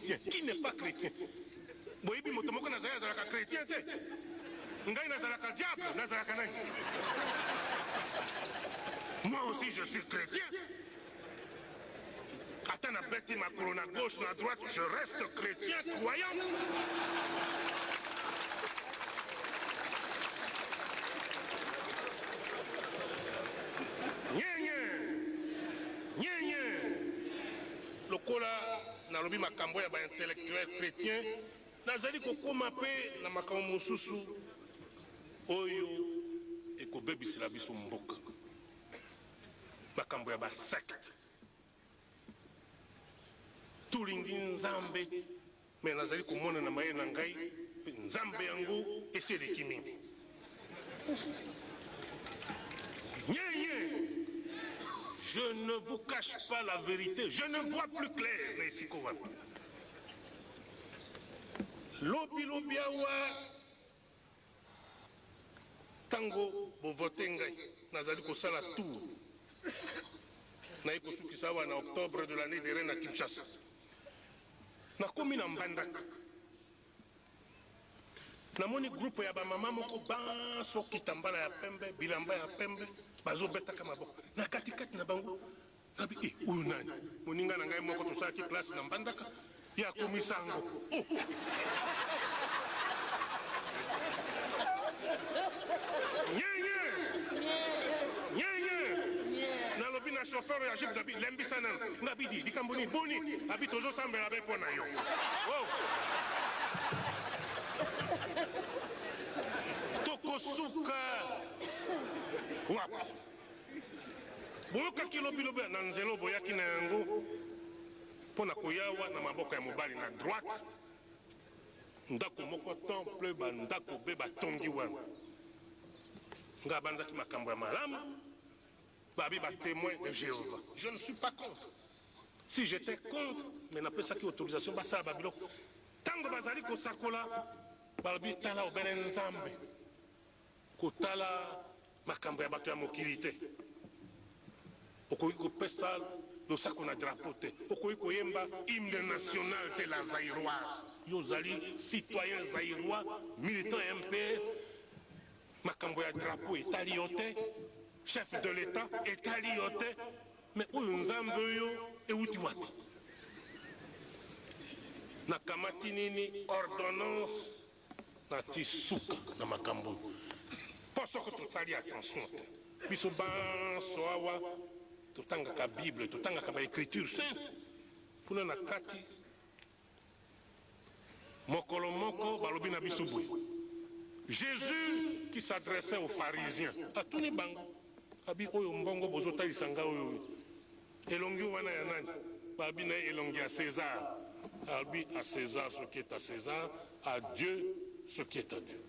Qui n'est pas chrétien? Boyebi moto moko na Zaire azalaka chrétien te? Ngai nazalaka diable, nazalaka nani? Moi aussi je suis chrétien. Ata na beti makolo na gauche na droite, je reste chrétien croyant. Lokola nalobi makambo ya ba intellectuels chretiens, nazali kokoma mpe na makambo mosusu oyo ekobebisela biso mboka, makambo ya ba sectes. Tolingi Nzambe. Mais nazali komona na mayele na ngai pe nzambe yango esi eleki mingi nyee je ne vous cache pas la verite je ne vois plus clair na esika wana lobi lobi awa Tango bo voter ngai, nazali kosala tour naye kosukisa awa na octobre de l'annee derrière na Kinshasa. Nakomi na Mbandaka, namoni groupe ya ba mama moko banso kitambala ya pembe, bilamba ya pembe, bazobetaka maboko na kati kati na bango Nabi, eh, oyo nani? Moninga na ngai moko tosalaki classe na Mbandaka, ye akomi sango. Oh. Nyenye! Nyenye! Nalobi na chauffeur ya jeep nabi lembisa nanu. Nabi di likambo nini? Boni? Abi tozo sambela be mpo na yo. Oh. Tokosuka. Wapi? Boyokaki lobilobi ya na nzela oyo boyaki na yango mpo na koya awa na maboko ya mobali na droite, ndako moko temple, bandako be batongi wana. Nga abanzaki makambo ya malamu, babi ba temoin de Jehovah. Je ne suis pas contre. Si j'étais contre, mais napesaki autorisation basala ba biloko. Tango bazali kosakola, balobi tala obele Nzambe. Kotala makambo ya bato ya mokili te. Okoki kopesa losako na drapeau te. Okoki koyemba hymne national te, la zaïroise. Yo ozali citoyen zaïrois, militant ya MPR. Makambo ya drapeau etali yo te. Chef de l'Etat etali yo te. Mais oyo nzambe oyo ewuti wapi? Nakamati nini ordonnance Natii suka na makambo oyo mpo soko tosali attention te, biso banso awa totangaka Bible, totangaka ba Ecritures saintes kuna na kati, mokolo moko balobi na biso boye, Jesus qui s'adressait aux pharisiens atuni bango abi oyo mbongo bozotalisa ngai oyo Elongi wana ya nani? Ba bi naye elongi ya Cesar. A lobi a Cesar ce qui est a Cesar, a Dieu ce qui est a Dieu.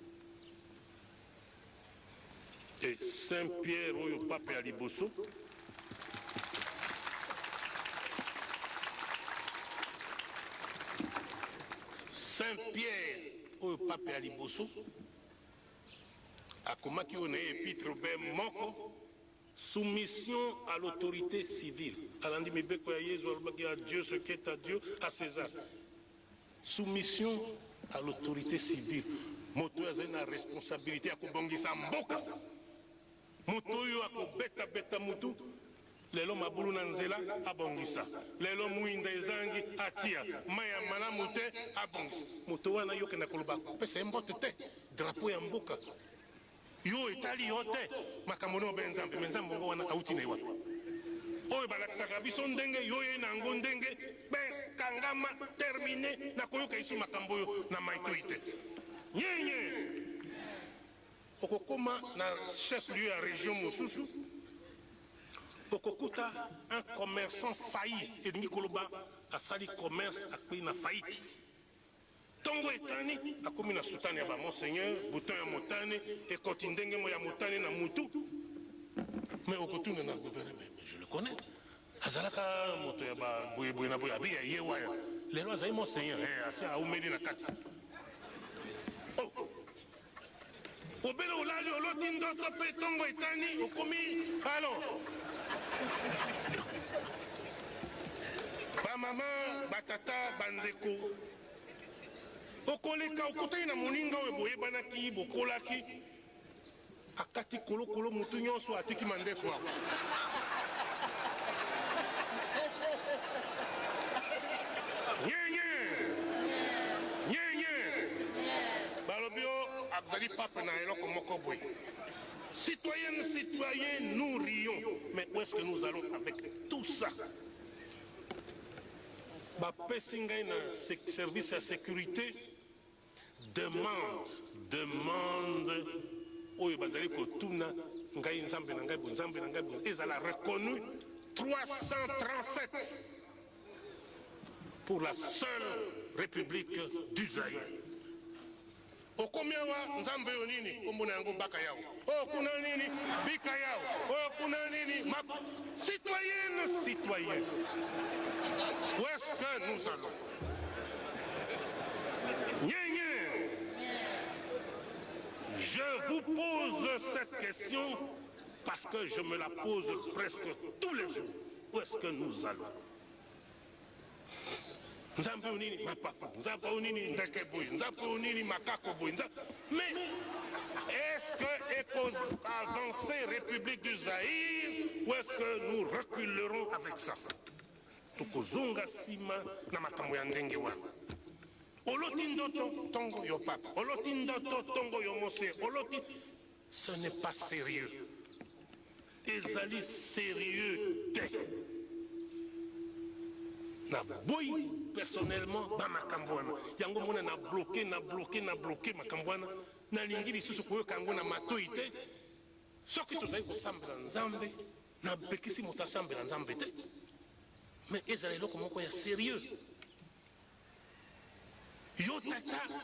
Et Saint Pierre oyo pape ya liboso, Saint Pierre oyo pape ya liboso akomaki oyo naye epitre be moko Soumission à l'autorite civile, alandi mibeko ya Yezu, alobaki, A Dieu ce qui est à Dieu, à Cesar. Soumission à l'autorite civile, moto oyo azali na responsabilite ya kobongisa mboka, moto oyo akobeta beta mutu lelo mabulu na nzela abongisa, lelo mwinda ezangi atia, mai ya malamu te abongisa. Moto wana yo okenda koloba kopesa ye mbote te, drapeau ya mboka Yo etali yo te makambo na yo be nzambe mais nzambe yango wana awuti na ye wapi? Oyo balakisaka biso ndenge yo oye na yango ndenge père kangama termine na koyoka lisusu makambo oyo na maitoi te nyenye. Okokoma na chef lieu ya region mosusu okokuta un commerçant failli elingi koloba asali commerce akweyi na faillite. Tongo etani, akomi na soutane ya ba monseigneur, bouton ya motane, ekoti ndenge moko ya motane na mutu. Mais okotuna na gouverneur, mais je le connais, azalaka moto ya ba boye boye na boye, abe ya ye wana, lelo azali monseigneur, eh asi awumeli na kati. Oh! Obele olali oloti ndoto pe tongo etani okomi alo. Ba mama, ba tata, ba ndeko okoleka okutani na moninga oyo boyebanaki, bokolaki akati kolokolo mutu nyonso atiki mandefu ako Balobi yo azali pape na eloko moko boye. Citoyennes, citoyens, nous rions, mais où est-ce que nous allons avec tout ça? Bapesi ngai na service ya securite demande, demande oyo bazali kotuna ngai nzambe na ngai, bonzambe na ngai, ezala reconnu 337 pour la seule republique du Zaïre. okomi awa nzambe oyo nini nkombo na yango baka yao oyo kuna nini bika yao oyo kuna nini mako citoyenne citoyen où est ce que nous allons nyenye je vous pose cette question Parce que je me la pose presque tous les jours. Où est-ce que nous allons Nzambe unini mapapa, Nzambe unini ndeke boy, Nzambe unini makako boy. Mais est-ce que cause avancer République du Zaïre ou est-ce que nous reculerons avec ça Tokozonga sima na makambo ya ndenge wana. Oloti ndoto tongo yo papa, oloti ndoto tongo yo mose, oloti Ce n'est pas serieux. Ezali serieux te. Na boyi personnellement ba makambo wana. Yango mona na bloquer, na bloquer, na bloquer makambo wana. Na lingi lisusu koyoka yango na matoyi te. Soki tozali kosambela Nzambe, na pekisi moto asambela Nzambe te. Mais ezala eloko moko ya serieux. Yo tata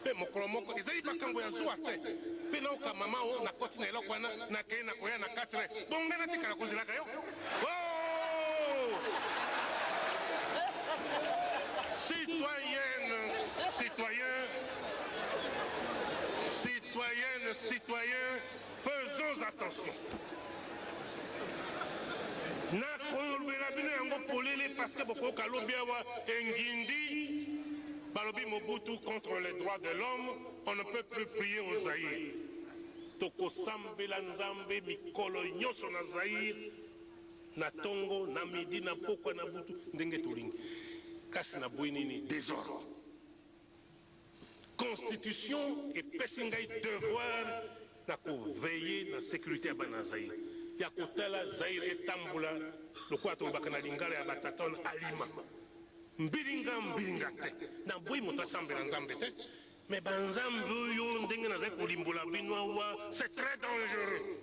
Mpe mokolo moko, ezali makambo ya zuwa te, mpe nayoka mama oyo, nakoti na eloko wana, nakei na koya na quatre, bongo ngai natikala kozelaka yo? Oh! Citoyenne, citoyen, citoyenne, citoyen, Faisons attention na kolobela bino yango polele parce que bokoyoka lobi awa engindi balobi Mobutu contre les droits de l'homme on ne peut plus prier au Zaïre tokosambela Nzambe mikolo nyonso na Zaïre na tongo na midi na pokwa na butu ndenge tolingi kasi na boyi nini desordre Constitution epesi ngai devoir na ko veiller na securite ya bana ya Zaïre, ya kotala Zaïre etambola lokola tolobaka na lingala ya ba tata wana alima mbilinga mbilinga te. Naboyi moto asambela Nzambe te mais ba Nzambe oyo ndenge nazali kolimbola bino awa c'est très dangereux.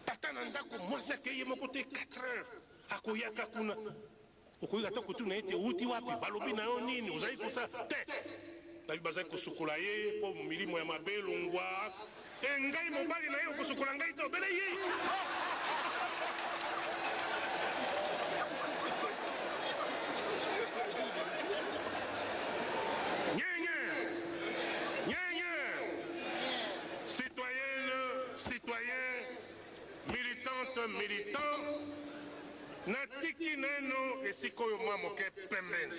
Tata na ndako, mwasi akei ye moko te, 4 heures akoyaka kuna. Okoki ata kotuna ete, Outi wapi? Balobi na yo nini? Ozali kosala? Te! Babi bazali kosukola ye mpo milimo ya mabe elongwa. Ee, ngai mobali na ye. Okosukola ngai te? Obele ye. Militante, militant, natiki naino esika oyo mwa moke pembeni.